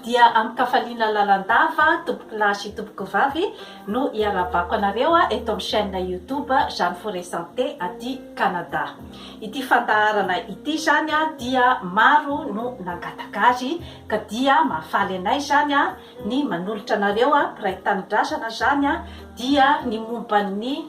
dia amin-kafaliana lalandava tompoko lahy sy tompoko vavy no iarahabako anareo eto amin'ny chaîne YouTube Jeanne Forêt Santé aty Canada. Ity fandaharana ity izany dia maro no nangataka azy ka dia mahafaly anay izany ny manolotra anareo mpiray tanindrazana izany dia ny momba ny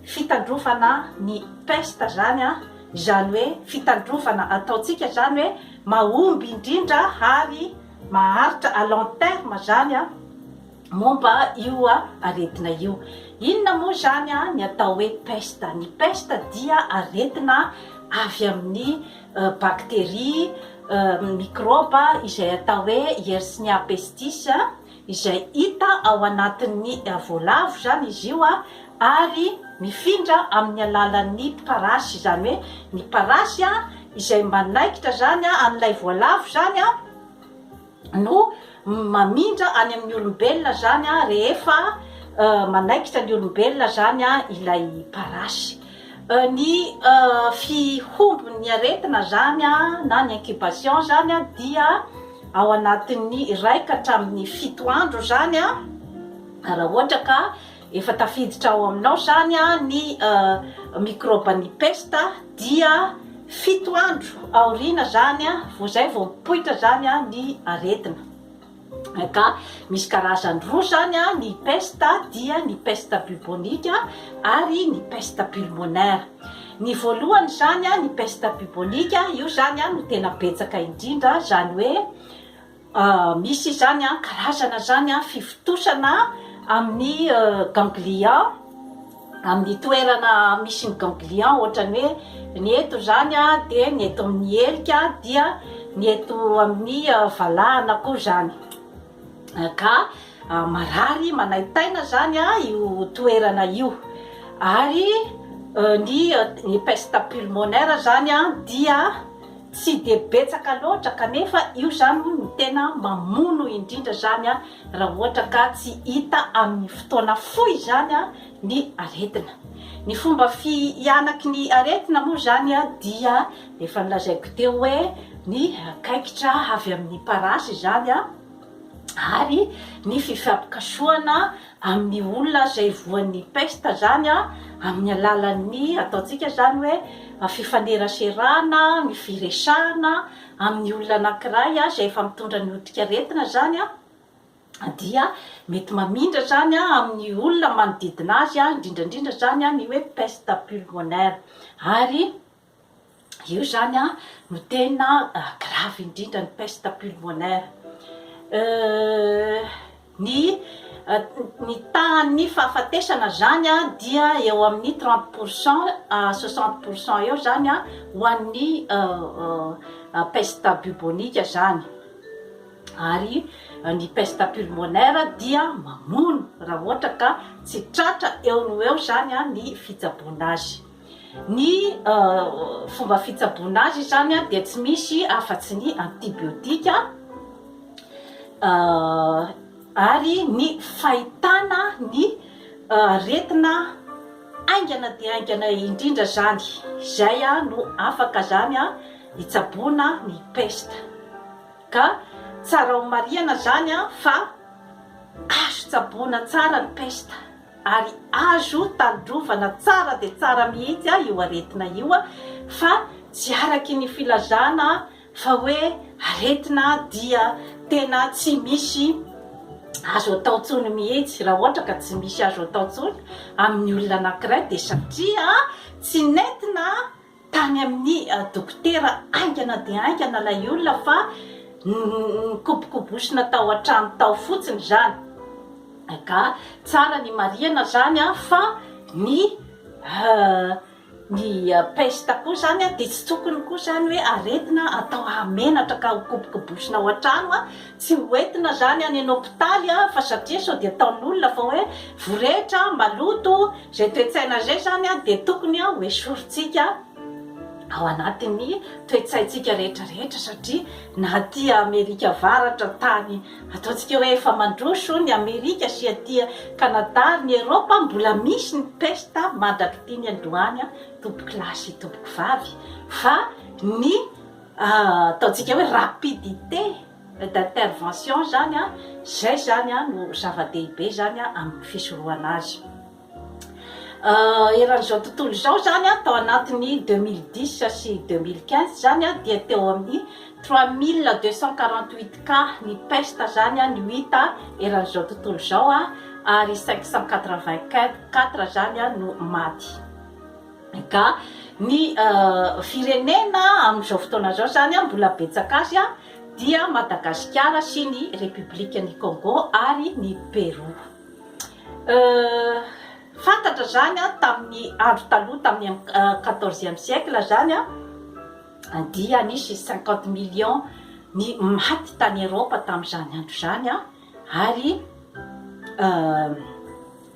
fitandrovana ny peste izany izany hoe fitandrovana ataontsika izany hoe mahomby indrindra ary maharitra à long terme izany momba io aretina io. Inona moa izany ny atao hoe pesta? Ny pesta dia aretina avy amin'ny bakteria, mikraoba izay atao hoe Yersinia pestis, izay hita ao anatin'ny voalavo izany izy io ary mifindra amin'ny alalan'ny parasy, izany hoe ny parasy izay manaikitra izany an'ilay voalavo izany, no mamindra any amin'ny olombelona zany a rehefa manaikitra ny olombelona zany a ilay parasy ny fihombon'ny aretina zany a na ny incubation zany a dia ao anatin'ny iraika hatramin'ny fito andro zany a raha ohatra ka Efa tafiditra ao aminao izany ny mikraoban'ny pesta dia fito andro aoriana izany vao izay vao mipoitra izany ny aretina. Ka misy karazany roa izany ny pesta dia ny pesta bubonique ary ny pesta pulmonaire. Ny voalohany izany ny pesta bubonique, io izany no tena betsaka indrindra izany hoe Misy izany an, karazana zany an fivontosana amin'ny ganglia, amin'ny toerana misy ny ganglia ohatran'ny hoe ny eto zany an dia ny eto amin'ny helika dia ny eto amin'ny valahana koa zany ka marary manaintaina zany an io toerana io ary ny peste pulmonaire zany an dia Tsy dia betsaka loatra kanefa io zany hono no tena mamono indrindra zany raha ohatra ka tsy hita amin'ny fotoana fohy zany ny aretina. Ny fomba fihanaky ny aretina moa zany dia efa nolazaiko teo hoe ny kaikitra avy amin'ny parasy izany ary ny fifampikasohana amin'ny olona izay voan'ny pesta izany amin'ny alalan'ny ataontsika izany hoe fifaneraserana, ny firesahana amin'ny olona anankiray izay efa mitondra ny odinkaretina izany dia mety mamindra izany amin'ny olona manodidina azy, indrindra indrindra izany ny hoe peste pulmonaire ary. Io izany no tena gravy indrindra ny peste pulmonaire. Ny ny tahan'ny fahafatesana izany dia eo amin'ny trente pour cent à soixante pour cent eo izany ho an'ny peste bubonique izany. Ary ny peste pulmonaire dia mamono raha ohatra ka tsy tratra eo no eo izany ny fitsaboana azy. Ny fomba fitsaboana azy izany dia tsy misy afa-tsy ny antibiotika ary ny fahitana ny aretina haingana dia haingana indrindra izany, izay no afaka izany hitsaboana ny pesta. Ka tsara homarihana izany fa azo tsaboina tsara ny pesta. ary azo tandrovana tsara dia tsara mihitsy io aretina io fa tsy araky ny filazana fa hoe aretina dia tena tsy misy azo atao tsony mihitsy raha ohatra ka tsy misy azo atao tsony amin'ny olona anankiray dia satria tsy nentina Tany amin'ny dokotera haingana dia haingana ilay olona fa nikobokobosina tao an-trano tao fotsiny izany. Ka tsara ny marihana izany fa ny ny pesta koa izany dia tsy tokony koa izany hoe aretina atao hahamenatra ka hokobokobosina ao an-trano Tsy ho entina zany any hopitaly a fa satria sao dia ataon'olona fa hoe vorehitra, maloto, zay toetsaina zay zany a dia tokony a ho esorintsika ao anatin'ny toetsaintsika rehetra rehetra satria na aty Amerika avaratra tany ataontsika hoe efa mandroso ny Amerika sy aty Canada ary ny Europe mbola misy ny pesta mandrak'ity ny androany a tompokolahy sy tompokovavy fa ny ataontsika hoe rapidité d'intervention izany an, izay izany an no zava-dehibe izany an amin'ny fisorohana azy. Eran'izao tontolo izao izany an, tao anatin'ny deux mille dix sy deux mille quinze izany an, dia teo amin'ny trois mille deux cent quarante huit cas ny pesta izany an no hita eran'izao tontolo izao an, ary cinq cent quatre vingt quatre izany an no maty. Ka ny firenena amin'izao fotoana izao izany mbola betsaka azy dia Madagasikara sy ny Repoblikan'i Kôngô ary ny Perou. Fantatra izany tamin'ny andro taloha tamin'ny quatorzième siècle izany dia nisy cinquante millions ny maty tany Erôpa tamin'izany andro izany ary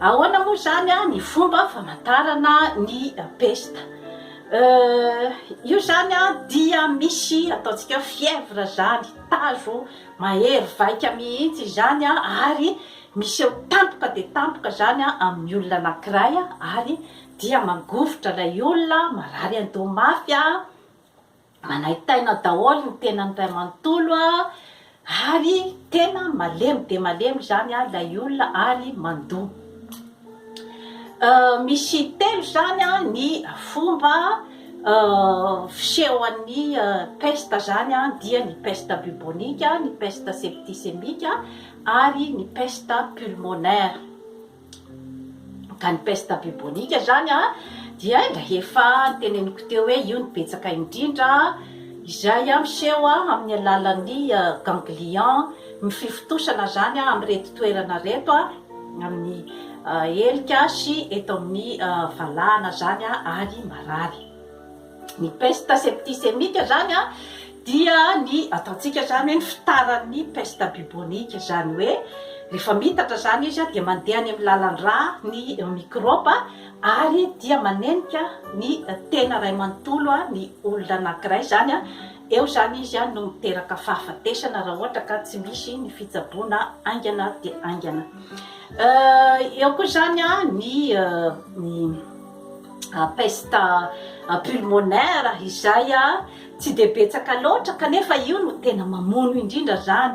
Ahoana moa izany ny fomba famantarana ny pesta? Io izany dia misy ataontsika hoe fièvre izany, tazo mahery vaika mihitsy izany ary miseho tampoka dia tampoka izany amin'ny olona anankiray ary dia mangovitra ilay olona, marary an-doha mafy, Manaintaina daholo ny tenany ray manontolo a! ary tena malemy dia malemy izany a! ilay olona ary mandoa. Misy telo izany a! ny fomba fisehon'ny peste izany a! dia ny peste bubonique, ny peste septicemique ary ny peste pulmonaire. Ka ny peste bubonique izany dia efa teneniko teo hoe io no betsaka indrindra izay miseho amin'ny alalan'ny ganglion ny fifontosana izany amin'ireto toerana ireto amin'ny helika sy eto amin'ny valahana izany ary marary. Ny pesta septisemika izany an, dia ny ataontsika izany hoe ny fitaran'ny pesta bibonika, izany hoe rehefa mitatra izany izy dia mandeha any amin'ny lalan-drà ny mikraoba ary dia manenika ny tena iray manontolo ny olona anankiray, izany an, eo izany izy no miteraka fahafatesana raha ohatra ka tsy misy ny fitsaboana haingana dia haingana. Eo koa izany an, ny. peste pulmonaire izay tsy dia betsaka loatra kanefa io no tena mamono indrindra izany.